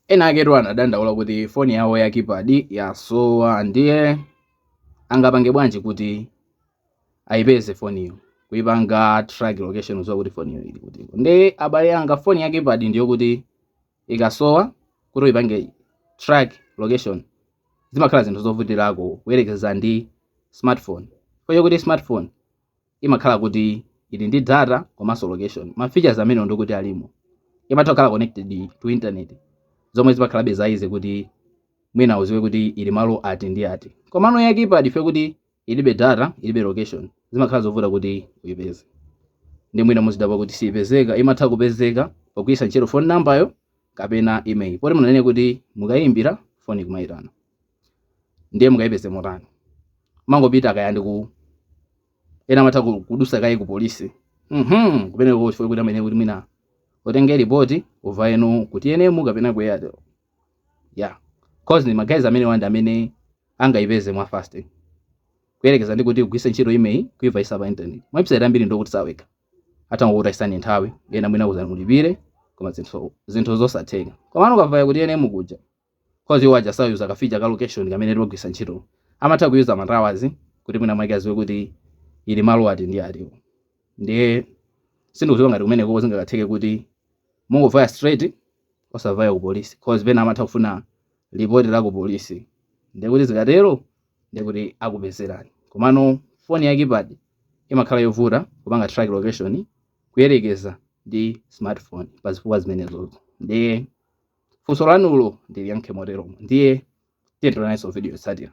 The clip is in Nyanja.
Ena aketu anadandaula kuti foni yawo ya keypad yasowa ndiye angapange bwanji kuti ayipeze foniyo kuipanga track location kuziwa kuti foniyo ili kuti nde abale anga foni ya keypad ndiyo kuti ikasowa kuti uipange track location zimakhala zinthu zovutirako kuyerekeza ndi smartphone chifukwa chakuti smartphone imakhala kuti ili ndi data komanso location ma features amenewo ndiye kuti alimo imatha kukhala connected to internet zomwe zimakhalabe za easy kuti mwina uziwe kuti ili malo ati ndi ati komano ya keypad chifukwa choti ilibe data ilibe location zimakhala zovuta kuti uyipeze ndiye mwina muzidabwa kuti siyipezeka imatha kupezeka pogwiritsa ntchito phone number yo kapena email poti munanena kuti mukayimbira foni kumayitana ndiye mungayipeze motani mangopita kaya ndi ku ena amatha kudusa kaye ku polisi mhm kumeneko chifukwa kuti amene kuti mwina mutenge report uvaye no ku TNM kapena ku Airtel ya cause ni magazi amene wanda amene angayipeze mwa fast kuyerekeza ndi kuti ugwise ntchito IMEI kuivayisa pa internet website ambiri ndokuti satheka atangokutayisani nthawi ena mwina akuuzani mulipire koma zinthu zinthu zosatheka komano ukavaya kuti ene mukuja Coz iwo aja sayuza ka feature ka location kamene timagwiritsa ntchito. Amatha kuyuza ma towers kuti mwina mwake aziwe kuti ili malo ati ndi ati. Ndiye sindikuziwa ngati kumenekoko zingakatheke kuti mungovaya straight osavaya ku police coz pena amatha kufuna report ya ku police ndiye kuti zikatero ndiye kuti akupezerani. Komano phone ya keypad imakhala yovuta kupanga track location kuyerekeza ndi smartphone pazifukwa zimenezozo. Ndiye. funso lanulo ndiliyankhe moteromo ndiye tionerananso video yotsatira